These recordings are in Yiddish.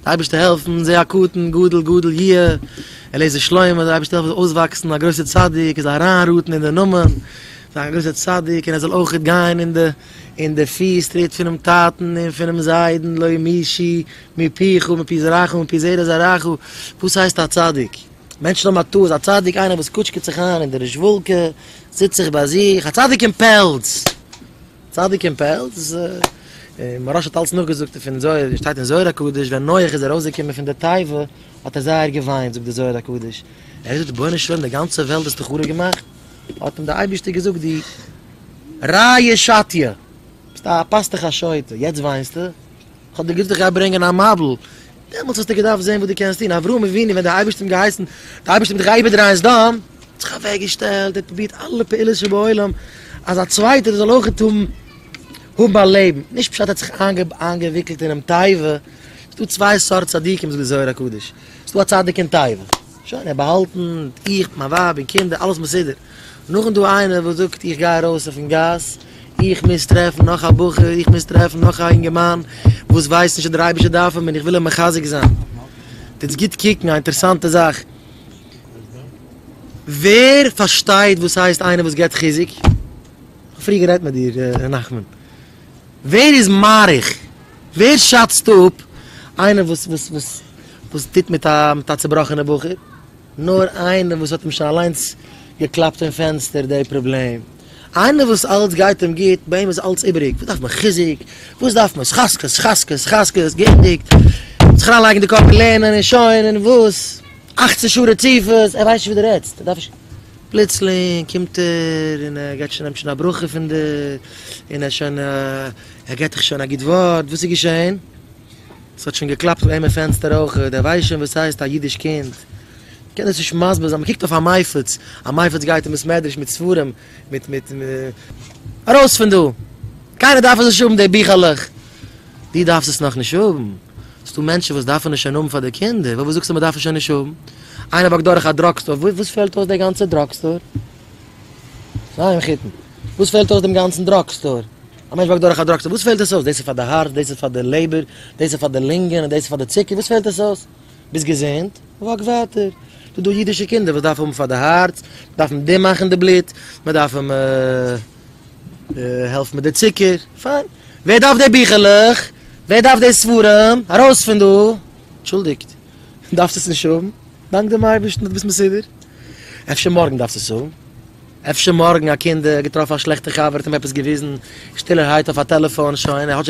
די אייבערשטער העלפן זיי א קטן גדול גדול יהיה, עליעזר שלמה זאל די אייבערשטער העלפן זאל אויסוואקסן א גרויסער צדיק און זיי אריינראטן אין די נאמען פון א גרויסער צדיק און ער זאל אויכעט גיין אין די אין די פיס טריט פונעם טאטן און פונעם זיידן לא מישי מפיך מפי זרעך ומפי זרע זרעך, וואס הייסט א צדיק? מענטשן האבן א טעות, א צדיק איינער וואס קוטשקעט זיך איין אין די רישוואלקע, זיצט זיך ביי זיך, א צדיק אין פעלז! צדיק אין פעלז, און מוהראש האט אלץ נאכגעזאגט פון זוהר, ווי עס שטייט אין זוהר הקדוש, ווען נח איז ארויסגעקומען פון די תיבה, האט ער זייער געוויינט, זאגט די זוהר הקדוש, ער האט געזאגט רבונו של עולם די גאנצע וועלט האסטו חרוב געמאכט, האט אים די אייבערשטער געזאגט די ראיה שתיה, ביסט א פאסטוך א שוטה, יעצט וויינסטו? האט דער גוטער גיי ברענגען א מבול, דעמאלטס האסטו געדארפט זען וואס דו קענסט טון, אברהם אבינו ווען דער אייבערשטער האט אים געהייסן, דער אייבערשטער האט מיט דיך איבערדרייען סדום, האט זיך אוועק געשטעלט, ער האט פרובירט אלע פעולות שבעולם אז א צווייטער זאל אויכעט האבן האבן א לעבן, נישט פשט ער האט זיך איינגעוויקלט אינעם תיבה, ס'איז דא צוויי סארט צדיקים זאגט דער זוהר הקדוש, ס'איז דא א צדיק אין תיבה, שוין ער האט באהאלטן, איך מיט מיין ווייב און קינדער אלעס מסודר. נאכן דא איינער וואס זאגט איך גיי ארויס אויפן גאס, איך מוז טרעפן נאך א בחור, איך מוז טרעפן נאך א אינגערמאן וואס ווייסט נישט אז דער אייבערשטער דארף אים און איך וויל אים מחזק זיין. טוטס גוט קוקן, א אינטערעסאנטע זאך, ווער פארשטייט וואס הייסט איינער וואס געבט חיזוק? כ'האב פריער גערעדט מיט דיר ר' נחמן, ווער איז מעריך, ווער שאצט אפ איינער וואס טוט מיט א צובראכענע בחור? נאר איינער וואס האט אים שוין אליינס געקלאפט אין פענסטער די פראבלעם, איינער וואס אלץ גייט אים גוט, ביי אים איז אלץ איבעריג, וואס דארף מען חיזוק, וואס דארף מען ס'חזקות חזקות ס'חזקות, געענדיגט, זיך אריינלייגן די קאפ אין לערנען און שוין, און וואס, אכצן שעה רציפות, ער ווייסט נישט וואס דו רעדסט, ער דארף נישט, פלוצלינג קומט ער און ער גייט שוין נעמט שוין א ברכה פון דיר, און ער שוין ער געט דיך שוין א גוט ווארט, וואס איז געשען? ס'האט שוין געקלאפט אויף איינער פענסטער אויך, דער ווייסט שוין וואס ס'הייסט א אידיש קינד, קען דאס נישט מסביר זיין, מ'קוקט אויף א מייפעץ, א מייפעץ גייט אין בית מדרש מיט ספרים, מיט מיט מ. ארויס פון דא! קיינער דארף עס נישט האבן די ביכלעך! דו דארפסט עס נאכנישט האבן? ס'דא מענטשן וואס דארפן עס שוין האבן פאר די קינדער, וואלוואס זאגסטו מ'דארף עס שוין נישט האבן? איינער וואקט דורך א דראג סטאר, וואס פעלט אויס די גאנצע דראג סטאר? זיי מחותן, וואס פעלט אויס דעם גאנצן דראג סטאר? א מענטש באקט דורך א דראג טעסט, וואס פעלט עס אויס? דאס איז פאר די הארץ, דאס איז פאר די לעבער, דאס איז פאר די לינגען, און דאס איז פאר די צוקער, וואס פעלט עס אויס? ביסט געזונט, וואק ווייטער. ס'איז דא אידישע קינדער וואס דארפן האבן פאר די הארץ, דארפן די דעם מאכן די בלוט, מען דארף אים העלפן מיט די צוקער, פיין. ווער דארף די ביכלעך? ווער דארף די ספרים? ארויס פון דא! אנטשולדיגט, דארפסט עס נישט האבן, דאנק דעם אייבערשטן אז דו ביסט מסודר. אפשר מארגן דארפסטו עס האבן. אפשר מארגן א קינד געטראפן א שלעכטע חבר האט אים עפעס געוויזן שטילערהייט אויף א טעלעפאן שוין ער האט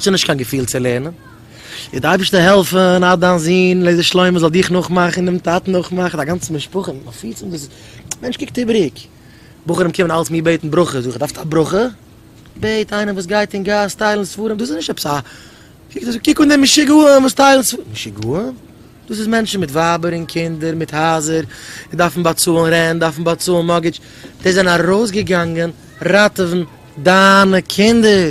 שוין נישט קיין געפיל צו לערנען איז די אייבערשטער העלפן אז דיין זון לעזער שלמה זאל דיך נאכמאכן און דעם טאטן נאכמאכן א גאנצע משפחה און מפיץ און דאס מענטש קוקט איבעריג בחורים קומען אלץ מיר בעטן ברכה זאג איך דארפסט א ברכה? בעט איינעם וואס גייט אין גאס טיילן ספרים דאס איז נישט עפעס א קוק אן דעם משוגעים וואס טיילן ספרים משוגעים? דאס איז מענטשן מיט ווייבער און קינדער, מיט הייזער, און דארפן באצאלן רענט, דארפן באצאלן מארגעדזש, די זענען ארויסגעגאנגען ראטעווען דיינע קינדער!